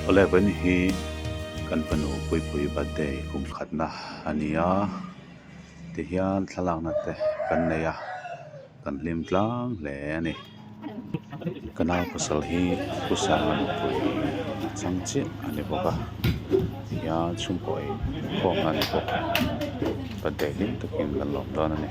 Eleven hi kan fanu puipuii birthday kum khatna a ni a tihian thlalakna te kan nei a. Kan hlim tlang hle a ni. Ka nau pasal hi pu Sanga nupui a chang chiah a ni bawk a tihian chhungkaw ei khawm na ni bawk ka deh hlim takin kan lawm dawn a ni.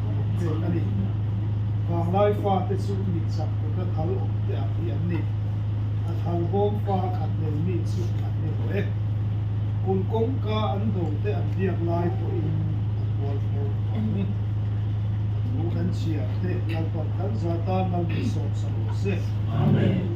chen a ni. Vanglai fate chu mit chak kutna thal awm te ang hi an ni. A thal bawm fa khat nei mi chu an ni lo e. Kun kawngka an do te an biak lai pawhin a bual fur ang. Thu kan chhia te Lalpa tal zat a mal ni sawm sa lo se. Amen.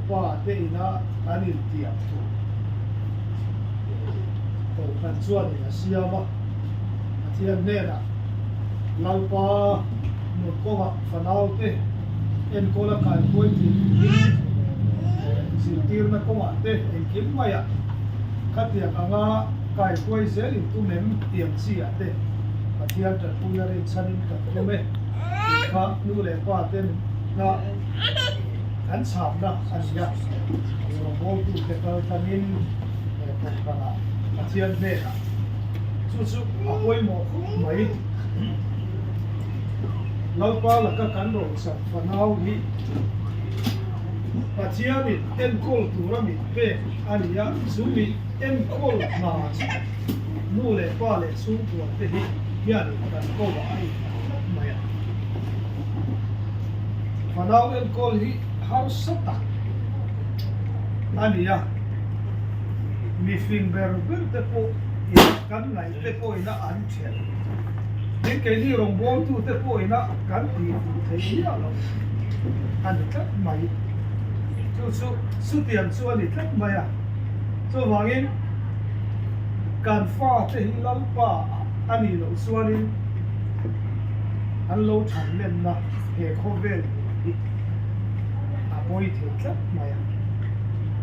Pa te ina kan in tiam thu kohhran chuan in a siam a, Pathian hnenah Lalpa nun kawngah fanau te enkawl a kai kuai thin in zirtirna kawngah te engkim maia khatiang anga kai kuai zel in tum em tiang chiah te Pathian tanpuia rinchhan in kan tum e, tih kha nu leh pa ten hna. kan chhakna a ni a, Rawngbawihtute kal tanin Kawngkara Pathian hnenah chu chu a pawimawh mai. Lalpa laka kan rochak fanau hi Pathianin enkawl tura mit pek a ni a, chu mit enkawl hna chu nu leh pa leh chhungkualte hi hianin kan ko a a inham tlat mai a. Fanau enkawl hi harsa tak a ni a, mi fing ber ber te pawh in kan ngaih te pawhin a an chhiat. Tin keini rawngbawitu te pawhin a kan tih duh theih miah loh a ni tlat mai. Chu chu chutiang chu a ni tlat mai a, chuvangin kan fate hi Lalpa a nih loh chuanin, an lo chhan lenna he khaw vel tur hi a pawi thei tlat mai a.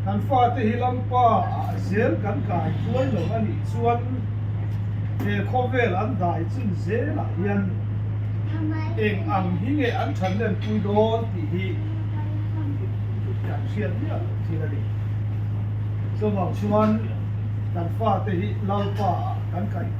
Kan fate hi lampa ah zel kan kai tuai lo a nih chuan he khaw vel an dai chun zel ah hian eng ang hi nge an chhan len pui dawn tih hi kan hriat miah loh thil a ni. Chuvang chuan kan fate hi lampa ah kan kai tuai lo.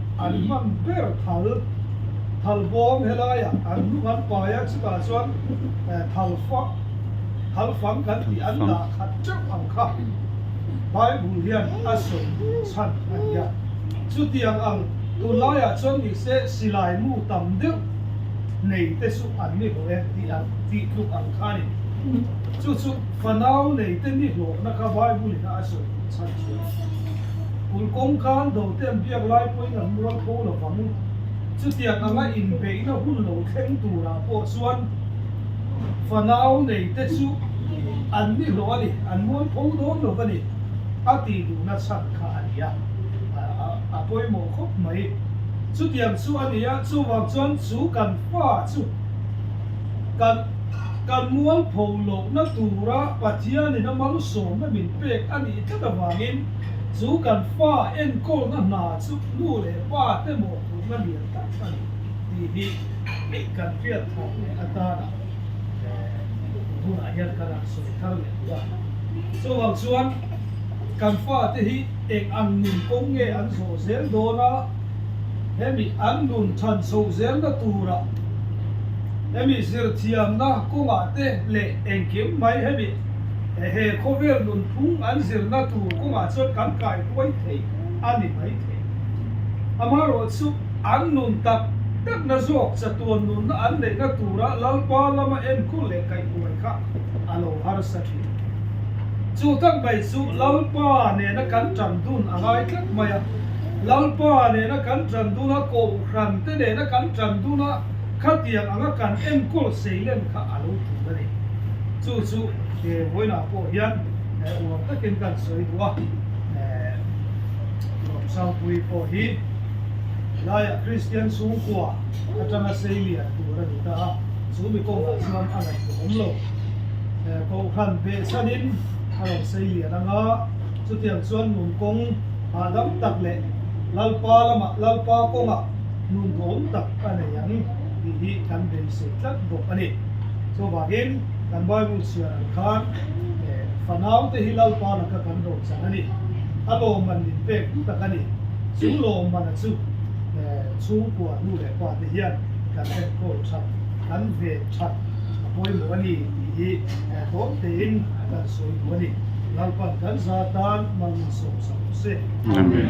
An hman ber thal, thal bawm helaiah an hmu hman pai a, chutah chuan thal fak, thal fang kan tih an dah khat teuh ang kha Bible hian a sawi chhan a nia. Chutiang ang, tunlaiah chuan nise silai mu tam deuh nei te chu an ni hlawh e tih an tih tluk ang kha a ni. Chu chu fanau nei te ni hlawhna kha Bible-in a sawi chhan chuai. Ul kawngkân dote an biak lai pawhin an mual kho lo vang. Chutiang anga inbeihna hun lo thleng turah pawh chuan fanau neite chu an ni hlawh a ni, an mual kho dawn lo va ni, a tih duh nachhan kha a ni a, a pawimawh khawp mai. Chutiang chu a ni a, chuvang chuan chu kan fa chu kan kan mual pho lohna tura Pathianin a malsawmna min pek a ni. Hetah vangin chu kan fa enkawlna hna chu nu leh pa te mawhphurhna lian tak a ni tih hi kan hriatthawh leh atanah hunah hian ka rawn sawi thar leh bawk a. Chuvang chuan kan fa te hi eng ang nun kawng nge an zawh zel dawn a, hemi an nun than chhoh zelna turah hemi zirthiamna kawngah te leh engkim mai hemi he khawvel nunphung an zirna tur kawngah chuan kan kaihruai thei a ni mai thei. Amaherawh chu an nun tak takna zawk chatuan nunna an neihna tura Lalpa lama enkhur leh kaihruai kha a lo harsa thin. Chu tak mai chu Lalpa nena kan tan dun a ngai tlat mai a. Lalpa nena kan tan dun a, Kohhran te nena kan tan dun a, Khatiang anga kan enkawl seilem kha a lo tum a ni. Chu chu he huaina pawh hian uam takin kan sawi duh a, Nuam Sangpui pawh hi Laiah Kristian chhungkua atanga seilian tur a ni ta a, chu mi kawngah chuan a ngaihtuahawm lo. Kohhran beh chhanin a rawn seilian anga, chutiang chuan Num kawng hahdam tak leh Lalpa lamah Lalpa kawngah Num duhawm tak a nei ang tih hi kan beisei tlat bawk a ni. Chuvangin kan Bible siarah khan fanaute hi Lalpa laka kan rochang a ni. A lawmman min pek duh tak a ni. Chu lawmmana chu chhungkua nu leh pate hian kan enkawl that, kan ve that a pawimawh a ni tih hi tawng tein kan sawi duh a ni. Lalpa'n kan za tan mal min sawmsak duh se. Amen.